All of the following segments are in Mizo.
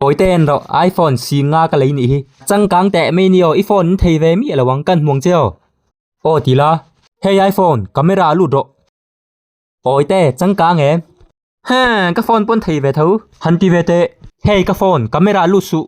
Kawite en rawh, iPhone si nga ka lei nih hi. Changkang teh mai ni aw, i phone in thei ve miah lo ang, kan hmuang che aw. Aw ti la. Hei iPhone, camera a lut rawh. Kawite, changkang em? Heng, ka phone paw'n thei ve tho. Han ti ve teh. Hei ka phone, camera a lut suh.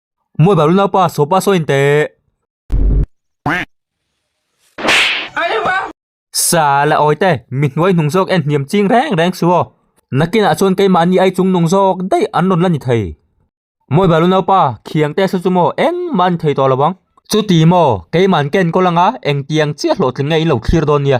Mawi balu nau pa saw pa saw in teh. Sal a awi te mi hnuai hnung zawk en hniam ching reng reng chu aw. Nakin ah chuan kei mahni ai chung nung zawk daih an rawn la ni thei. Mawi balu nau pa khiang te saw chu maw eng mah a ni thei tawh lo vang. Chu ti maw kei man ka en kawl ang a eng tiang chiah hlawhtling nge in lo thlir dawn nia.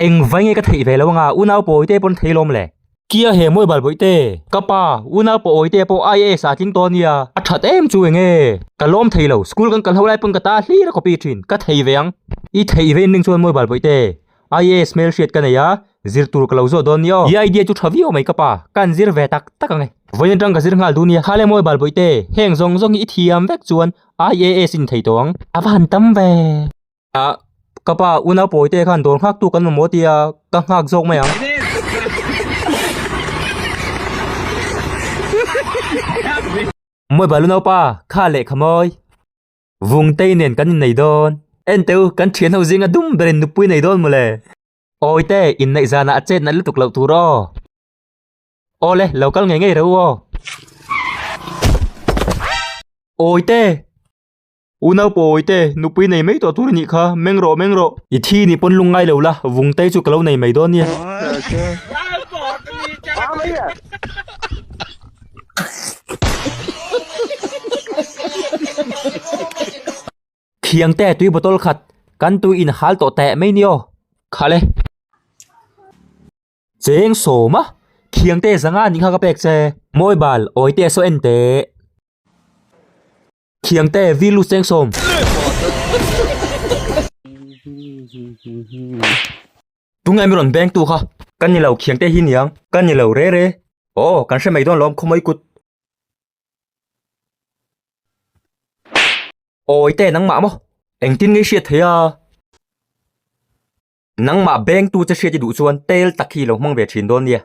Eng vai nge ka theih ve lo anga unau pawi te pawn thei lawm le. Kia he Mawi Balbawi te, ka pa, unau pawi te pawh IAS ah a tling tawn nia, a that em chu eng e. Ka lawm thei lo, school kan kal ho lai pawn ka ta hlir a copy thin, ka thei ve ang. I theih ve in ning chuan Mawi Balbawi te, IAS hmel hriat ka nei a, zir tur ka lo zawt dawn nia aw. I idea chu tha viau mai ka pa, ka an zir ve tak tak ang e. Vawiin atang ka zir nghal dun nia, khale Mawi Balbawi te, heng zawng zawng hi i thiam vek chuan IAS in thei tawh ang. A va han tam ve. Ah, ka pa, u naupawi te khan dawr nghak tu kan mamawh ti a, ka nghak zawk mai ang. Mawih bal u naupa, kha leh kha mawi. Vungtei nen kan innei dawn. Enteu, kan thianho zinga dum berin nupui nei dawn mawle. Awite, inneih zanah a chet nalh lutuk loh tur aw. Awle, lo kal ngei ngei reuh aw. Awite! U Naupawi te, nupui nei mai tawh tur a nih kha, meng rawh meng rawh. I thi ni pawn lung ngai lo la, vung tei chu ka lo nei mai dawn nia. Thiang te, tui bottle khat kan tui in hal tawh teh mai ni aw. Kha le. Cheng sawm a, Thiang te zanga nih kha ka pek che. Mawi bal, Awite saw en teh. Thiang te vi lu seng sawm. Tungai mi rawn beng tu kha. Kan ni lo Thiang te hi niang. Kan ni lo re re. Aw kan hre mai dawn lawm khawmui kut. Awi te nangmah maw? Engtin nge hriat theih a? Nangmah beng tu che hriat i duh chuan tel tak hi i lo hmang ve thin dawn nia.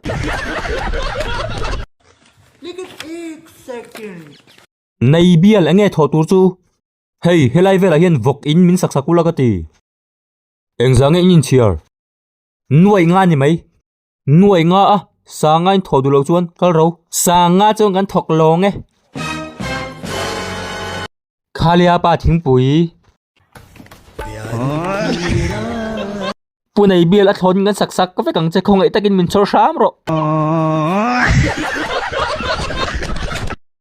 Nei bial enge thawh tur chu? Hei, helai velah hian vawk in min sak sak ulh a ka ti. Engzah nge in inchhiar? Nuaih nga ni mai. Nuaih nga a, sanga in thawh duh loh chuan kal ro. Sanga chuan kan thawk lawng e. Khaliapa thingpui. Pu nei bial a thlawn in kan sak sak ka vek ang che, khawngaih takin min chhawr hram rawh.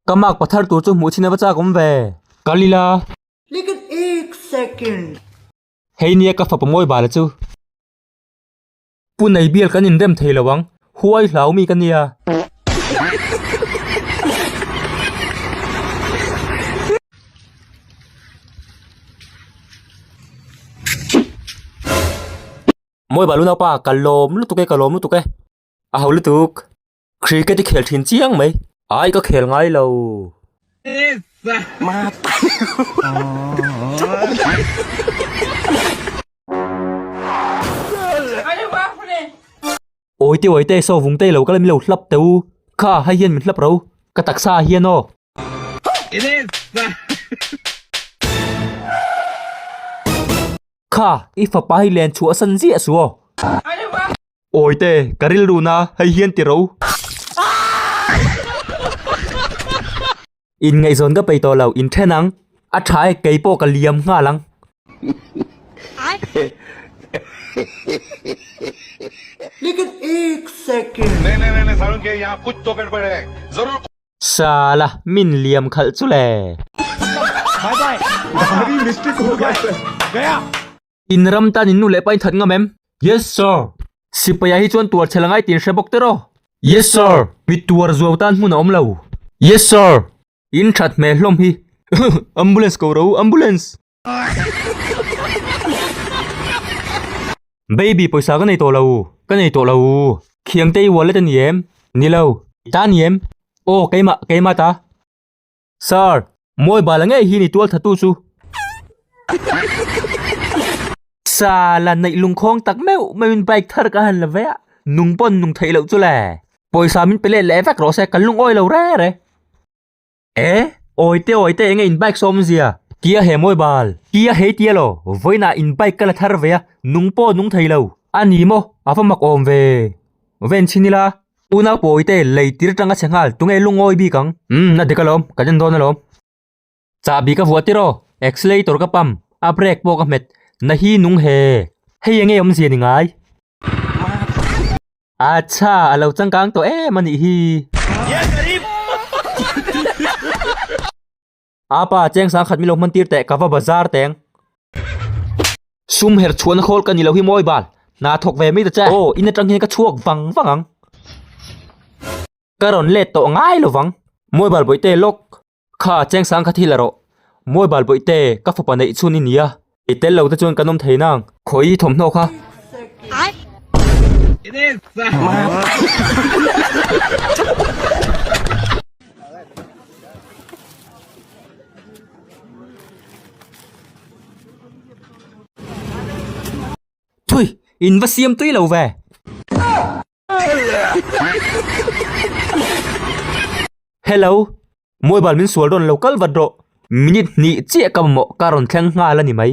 Ka mak pathar tur chu hmuh chhin a va chak awm ve. Ka li la. Like an ek second. Hei nia ka fa pawmawibala chu. Pu nei bial kan inrem thei lo ang. Huai hlau mi ka nia. Mawi balu naupa ka lawm lutuk e ka lawm lutuk e. A ho lutuk. Cricket i khel thin chiang mai. Ai ka khel ngai lo. Mata. Awi teh awi teh so vung teh lo ka la milo hlap teh u kha hei hian min hlap ro ka taksa ah hian aw. Kha i fapa hi len chhuah a san ziah su aw. Awi teh ka rilru na hei hian ti ro. In ngaihzawn ka pei tawh lo, in then ang. A tha e, kei pawh ka liam nghal ang. Sala, min liam khalh chu le. In ram tan in nu leh pa in that ngam em? Yes sir. Sipaia hi chuan tuar chhe la ngai tiin hre bawk tiraw? Yes sir. Mi tuar zuau tan hmun a awm lo? Yes sir. In that hmel hlawm hi. Ambulance ko ro, ambulance. Baby pawisa ka nei tawh lo u, ka nei tawh lo u. Khiangte i ualet a ni em? Ni lo. Ta ni em? Aw keimah, keimah ta. Sir, mawibal a ngei hi ni tualthatu chu. Sala, neih lungkhawng tak meuh meuhin bike thar ka han la vei a, nung pawn nung theih loh chu le. Pawisa min pe let leh vek rawh se, kan lung awi lo re re. Eh, awi te awi te enge in bike sawm zia? Tia he mawibal, tia hei tia lo, vawiinah in bike ka la thar vei a, nung pawh nung thei lo. A ni maw, a va mak awm ve. Ven chhin ila. Unau pawi te lei tir tanga chhe nghal tunge lu ngawi bik ang? Umm a dik alawm, kan en dawn alawm. Chah bik a vuah tir aw, accelerator ka pam, a brake pawh ka hmet, na hi nung he, hei enge awm zia ni ngai? Achha, a lo changkang tawh em a nih hi. A pa, cheng sang khat min lo hmantir teh, ka va ba zar teng. Sum her chhuahna khawl ka ni lo hi maw Ibal? Hna thawk ve mai ta che. Aw, in atang hian ka chhuak vang vang ang. Ka rawn let tawh ngai lo vang. Maw Ibal bawihte lawk. Kha, cheng sang khat hi la rawh. Maw Ibal bawihte, ka fapa neih chhun i nia. I tel lo te chuan kan awm thei nang. Khawi thawmhnaw kha. Thui! In va siam tui lo ve. Hello, mobile min sual dawn lo kal vat rawh, minute hnih chiah ka mamawh ka rawn thleng nghal a ni mai.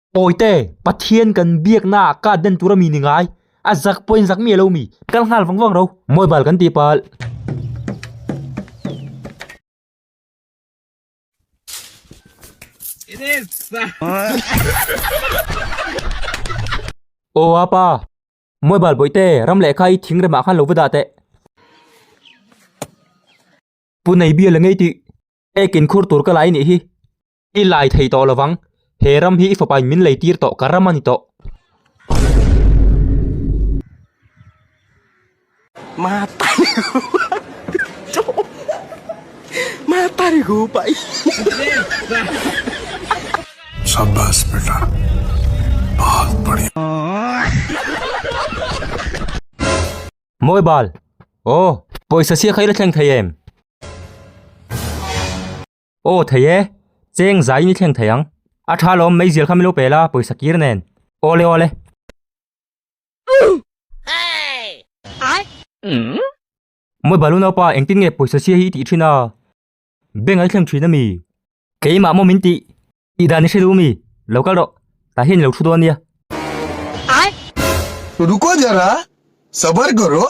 Pawite, Pathian kan biaknaah kat den tur a mi ni ngai. A zak pawhin zak mi a lo mi. Kal nghal vang vang ro. Mawibal kan tih pal. It is. Oa pa. Mawibal pawite, ram leh kha i thing remah khan lo va dah teh. Pu Neibia la ngei tih. Ekin khur tur ka la i nih hi. I lai thei tawh lovang, he ram hi i fapa in min lei tir tawh, ka ram a ni tawh. Mawi bal! Aw, pawisa sia kha i la thleng thei em? Aw thei e, cheng zaiin i thleng thei ang. A tha lawm, meizial kha min lo pel a, pawisa kir nen. Aw le aw le. Mawi balu naupa, engtin nge pawisa sia hi i tih thin a? Bank-ah i thleng thin a mi? Keimah maw min tih? Tih dan i hre duh mi? Lo kal rawh, tah hian i lo thu dawn nia. Ruko jara, sabar karo.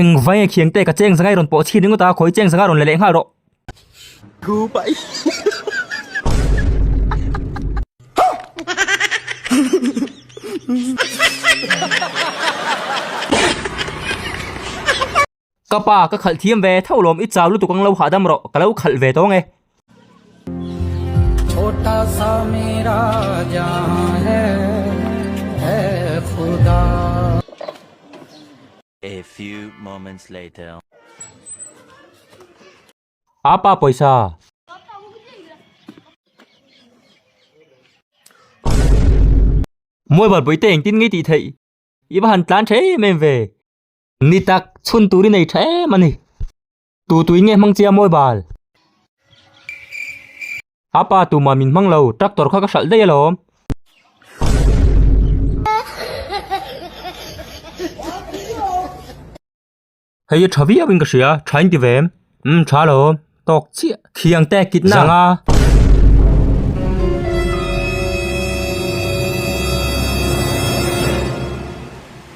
Eng vai nge khiang te ka cheng zangai rawn pawh chhi ringawt a khawi cheng zanga rawn la leh nghal rawh. Thu pai Ka pa ka khalh thiam ve tho lawm i chau lutuk ang lo hahdam rawh ka lo khalh ve tawng e. Papa pawisa. Mobile pawite engtin ngei tih theih. I va han tlan tha em em ve. Ni tak chhun turin ei tha em a ni. Tu tui nge hmang chiam awi bal. A pa tumah min hmang lo, tractor kha ka hralh daih alawm. Hei hi tha viau in ka hria, tha in ti ve em? Umm tha lo, tawk chiah. Khiang te kit na. Zang a.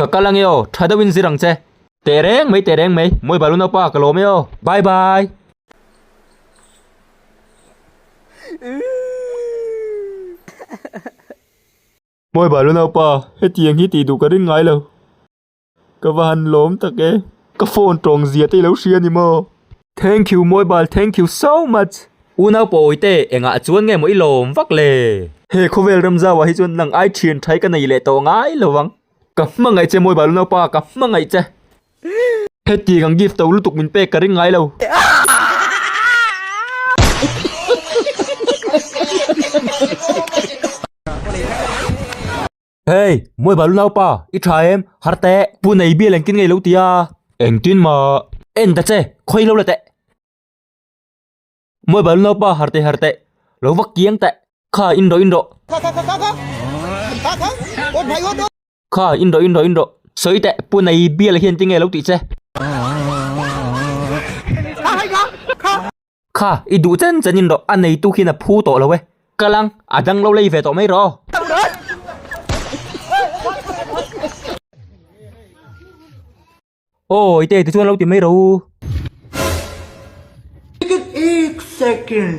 Ka kal ange aw, tha deuhin zir ang che. Teh reng mai, teh reng mai. Mawi balu naupa, ka lawm e aw. Bye bye. Mawi balu naupa, hetiang hi tih duh ka ring ngai lo. Ka va han lawm tak e. Ka phone tawng zia te i lo hria ni maw? Thank you mobile thank you so much. U Naupawi te engah chuan nge maw i lawm vak le. He khawvel rem zau ah hi chuan lang ai thin thai ka nei leh tawh ngai lo ang. Ka hmangaih che mobile unaupa ka hmangaih che. Hetiang ang gift to lutuk min pek ka ring ngai lo. Hey, muai balu naupa, i tha em, har te, pu nei bial engtin ngei lo tia. Engtin ma. En ta che, khoi lo la te. Muai balu naupa har te har te, lo vak kiang te, kha in ro in ro. Kha kha kha kha kha. Kha kha. Ot bhai ot. Kha in ro in ro in ro. Soi te, pu nei bial hian ti ngei lo ti che. Kha, i duh chen chen in rawh, a neitu khin a phu tawh lo e. Ka lang, a dang lo lei ve tawh mai rawh. Aw, i tei ti chuan a lo ti mai rawh u. Ticket ek second.